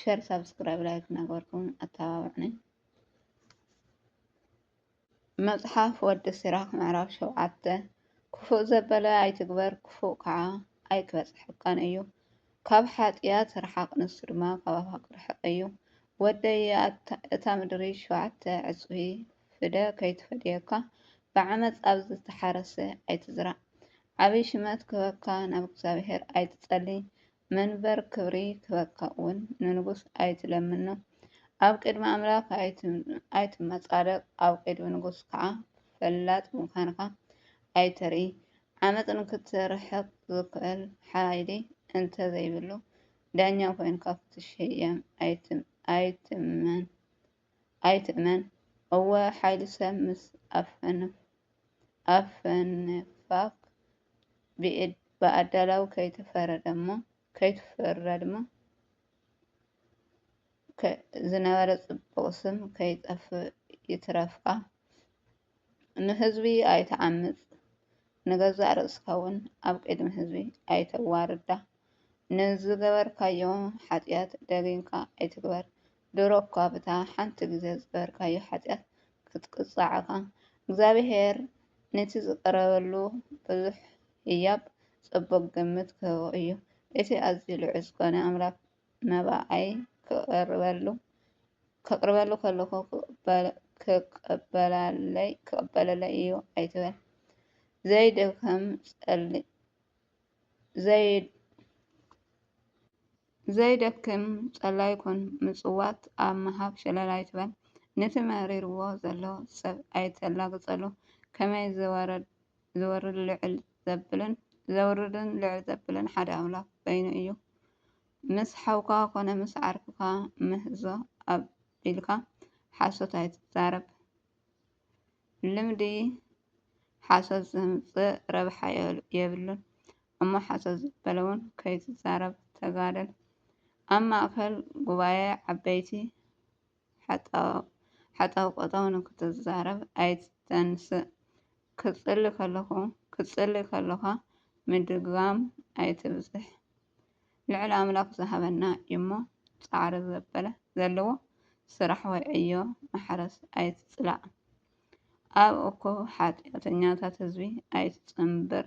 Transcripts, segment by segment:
ሸር ሳብስክራይብ ላይክ እናገበርኩም ኣተባብዕኒ። መጽሓፍ ወዲ ሲራክ ምዕራፍ ሸውዓተ ክፉእ ዘበለ ኣይትግበር ክፉእ ከዓ ኣይክበጽሐካን እዩ። ካብ ሓጢኣት ርሓቕ ንሱ ድማ ካባኻ ክርሕቕ እዩ። ወደይ እታ ምድሪ ሸውዓተ ዕጽፊ ፍደ ከይትፈድየካ ብዓመፅ ኣብ ዝተሓረሰ ኣይትዝራእ። ዓብይ ሽመት ክህበካ ናብ እግዚኣብሔር ኣይትጸሊ። መንበር ክብሪ ክበካ'ውን ንንጉስ ኣይትለምኖ፣ ኣብ ቅድሚ ኣምላኽ ኣይትመጻደቕ፣ ኣብ ቅድሚ ንጉስ ከኣ ፈላጥ ምዃንካ ኣይተርኢ። ዓመጽ ንኽትርሕቕ ዝኽእል ሓይሊ እንተ ዘይብሉ፣ ዳኛ ኰይንካ ክትሸየም ኣይትመን። ኣይትእመን እወ ሓይሊ ሰብ ምስ ኣፈንፋክ ብኣዳላዊ ከይትፈረድሞ ዝነበረ ፅቡቅ ስም ከይጠፍእ ይትረፍካ። ንህዝቢ ኣይትዓምፅ ንገዛእ ርእስካ እውን ኣብ ቅድሚ ህዝቢ ኣይተዋርዳ ንዝገበርካዮ ሓጢኣት ደጊምካ ኣይትግበር ድሮ እኳ ብታ ሓንቲ ግዜ ዝገበርካዮ ሓጢኣት ክትቅፃዕ እኻ እግዚኣብሄር ነቲ ዝቐረበሉ ብዙሕ ህያብ ፅቡቕ ግምት ክህቦ እዩ እቲ ኣዝዩ ልዑል ዝኾነ ኣምላክ መባኣይ ክቕርበሉ ከቕርበሉ ከለኹ ክቕበላለይ ክቕበለለይ እዩ ኣይትበል ዘይደከም ጸሊ ዘይ ዘይደክም ጸላይ ኩን ምጽዋት ኣብ ምሃብ ሸለል ኣይትበል ነቲ መሪርዎ ዘሎ ሰብ ኣይተላግጸሉ ከመይ ዝወረድ ዘውርድን ልዕል ዘብልን ሓደ ኣምላኽ በይኑ እዩ። ምስ ሓውካ ኮነ ምስ ዓርክካ ምህዞ ኣቢልካ ሓሶት ኣይትዛረብ። ልምዲ ሓሶት ዘምጽእ ረብሓ የብሉን እሞ ሓሶት ዝበለውን ከይትዛረብ ተጋደል። ኣብ ማእከል ጉባኤ ዓበይቲ ሓጣውቀጣው ንክትዛረብ ኣይትተንስእ፣ ክትጽሊ ከሎኻ ምድጋም ኣይትብዝሕ፣ ልዑል ኣምላኽ ዝሃበና እዩ'ሞ ጻዕሪ ዘበለ ዘለዎ ስራሕ ወይ ዕዮ ማሕረስ ኣይትጽላእ፣ ኣብ እኩብ ሓጢኣተኛታት ህዝቢ ኣይትጽንብር፣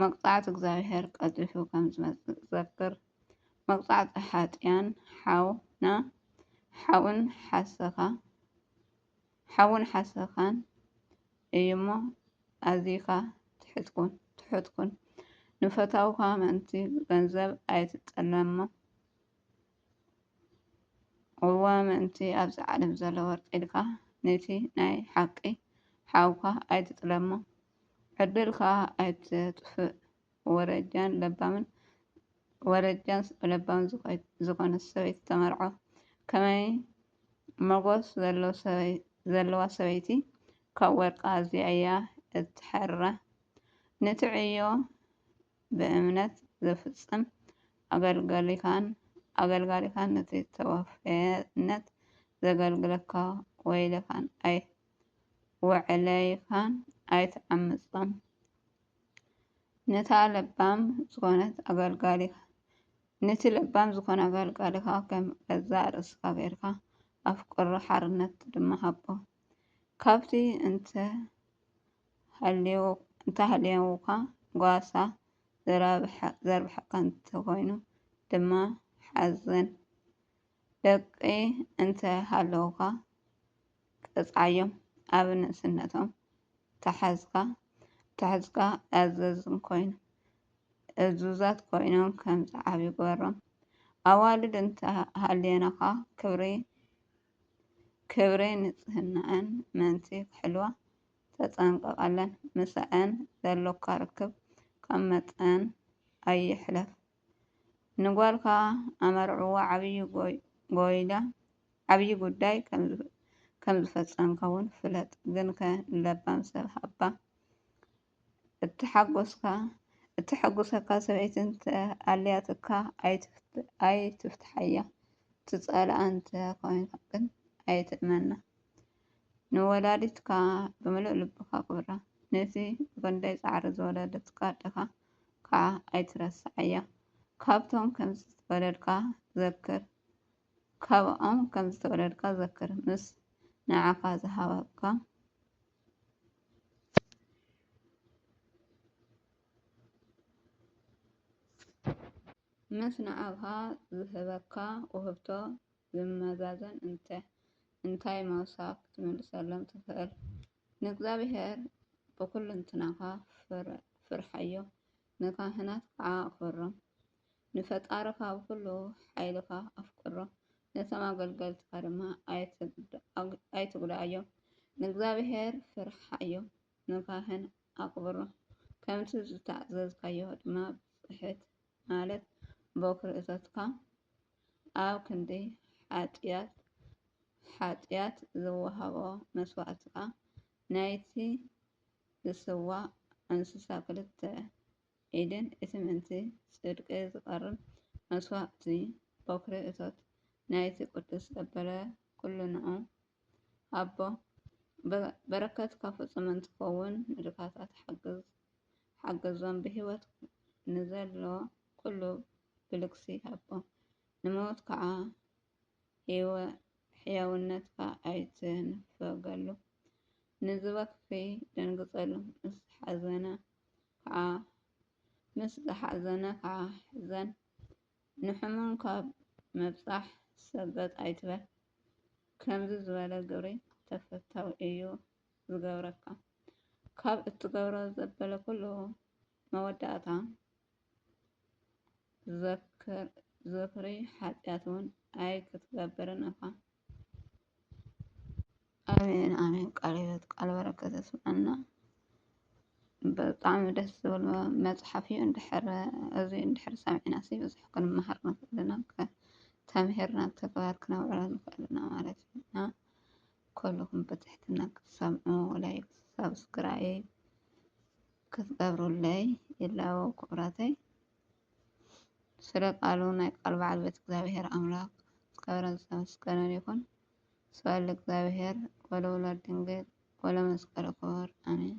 መቅጻዕቲ እግዚኣብሄር ቀልጢፉ ከም ዝመጽእ ዘክር፣ መቅጻዕቲ ሓጥያን ሓውና ሓውን ሓሰኻ ሓውን ሓሰኻን እዩሞ ኣዚኻ ትሑት ኩን ትሑት ኩን ንፈታውኻ ምእንቲ ገንዘብ ኣይትጠለሞ እወ ምእንቲ ኣብዚ ዓለም ዘሎ ወርቂ ኢልካ ነቲ ናይ ሓቂ ሓውካ ኣይትጥለሞ ዕድልካ ኣይትጥፍእ ወረጃን ለባምን ወረጃን ለባምን ዝኾነት ሰበይቲ ተመርዖ። ከመይ መጎስ ዘለዋ ሰበይቲ ካብ ወርቂ ኣዝያ እያ እትሐርራ። ነቲ ዕዮ ብእምነት ዘፍጽም ኣገልጋሊኻን ኣገልጋሊኻን ነቲ ተወፈየነት ዘገልግለካ ወይለኻን ኣይ ወዕለይኻን ኣይትዓምጾም። ነታ ለባም ዝኾነት ኣገልጋሊኻ ነቲ ለባም ዝኾነ ኣገልጋሊኻ ከም ገዛ ርእስኻ ጌርካ ኣፍቅሮ ሓርነት ድማ ሃቦ ካብቲ እንተ ሃልዮካ ጓሳ ዘርብሐካ እንተኾይኑ ድማ ሓዘን ደቂ እንተ ሃለውካ ቅጽዓዮም ኣብ ንእስነቶም ተሓዝካ ተሕዝካ ኣዘዝም ኮይኑ እዙዛት ኮይኖም ከም ዝዓብ ይግበሮም ኣዋልድ እንተ ሃልዮናኻ ክብሪ ክብሪ ንጽህናእን መንቲ ክሕልዋ ተጸንቀቐለን ምሰዐን ዘሎካ ርክብ ካብ መጠን ኣይሕለፍ። ንጓልካ ኣመርዕዋ ዓብዪ ጉዳይ ከምዝፈፀምካ'ውን ፍለጥ ግንከ ንለባም ሰብ ሃባ እተሓጉሰካ ሰበይቲ እንተኣልያትካ ኣይትፍትሓያ ትፀልኣ እንተኾይንካ ግን ኣይትእመና ንወላዲትካ ብምሉእ ልብኻ ኣኽብራ ነቲ ብኽንደይ ፃዕሪ ዝወለደትካ ኣደኻ ካዓ ኣይትረስዓያ ካብቶም ከምዝተወለድካ ዘክር ካብኦም ከምዝተወለድካ ዘክር ምስ ንዓካ ዝሃበካ ምስ ንዓካ ዝህበካ ውህብቶ ዝመዛዘን እንተ እንታይ ምውሳክ ክትምልሰሎም ትክእል ንእግዚኣብሄር ብዅልንትናኻ ፍርሓዮ፣ ንካህናት ከኣ ኣኽብሮም። ንፈጣሪኻ ብዅሉ ሓይልኻ ኣፍቅሮ፣ ነቶም ኣገልገልትኻ ድማ ኣይትጕድኣዮም። ንእግዚኣብሄር ፍርሓዮ፣ ንካህን ኣኽብሮ፣ ከምቲ ዝተኣዘዝካዮ ድማ ብጽሕት ማለት ቦክሪ እቶትካ ኣብ ክንዲ ሓጥያት ሓጥያት ዝወሃቦ መስዋእቲ ከኣ ናይቲ ዝስዋእ እንስሳ ክልተ ኢድን እቲ ምእንቲ ጽድቂ ዝቐርብ መስዋእቲ ቦክሪ እቶት ናይቲ ቅዱስ ዘበለ ኩሉ ንዑ ኣቦ በረከት ካብ ፍፁም እንትከውን ንድካታት ሓገዞም ብሂወት ንዘሎ ኩሉ ብልግሲ ሃቦ ንሙውት ካዓ ሕያውነትካ ኣይትንፈገሉ ንዝበኪ ደንግፀሉ ምስ ዝሓዘነ ካዓ ሕዘን ንሕሙም ካብ ምብጻሕ ሰበጥ ኣይትበል። ከምዚ ዝበለ ግብሪ ተፈታዊ እዩ ዝገብረካ። ካብ እትገብሮ ዘበለ ኩሉ መወዳእታ ዝኽሪ ሓጢኣት እውን ኣይክትገብርን እኻ። ኣሜን ኣሜን። ቃለ ሕይወት ቃለ በረከት ስምዐና። ብጣዕሚ ደስ ዝብል መፅሓፍ እዩ። እንድሕር እዚ እንድሕር ሰሚዕና ሲ ብዙሕ ክንመሃር ንኽእል ኢና ተምሂርና ኣብ ተግባር ክነውዕሎ ንኽእል ኢና ማለት እዩ እና ኩልኹም ብትሕትና ክትሰምዑ ላይክ ሳብስክራይብ ክትገብሩለይ ይላቦ ክብራተይ ስለ ቃሉ ናይ ቃል በዓል ቤት እግዚኣብሔር ኣምላክ ዝከበረን ዝተመስገነን ይኩን ስብሐት ለእግዚኣብሔር ወለወላዲቱ ድንግል ወለመስቀሉ ክቡር ኣሜን።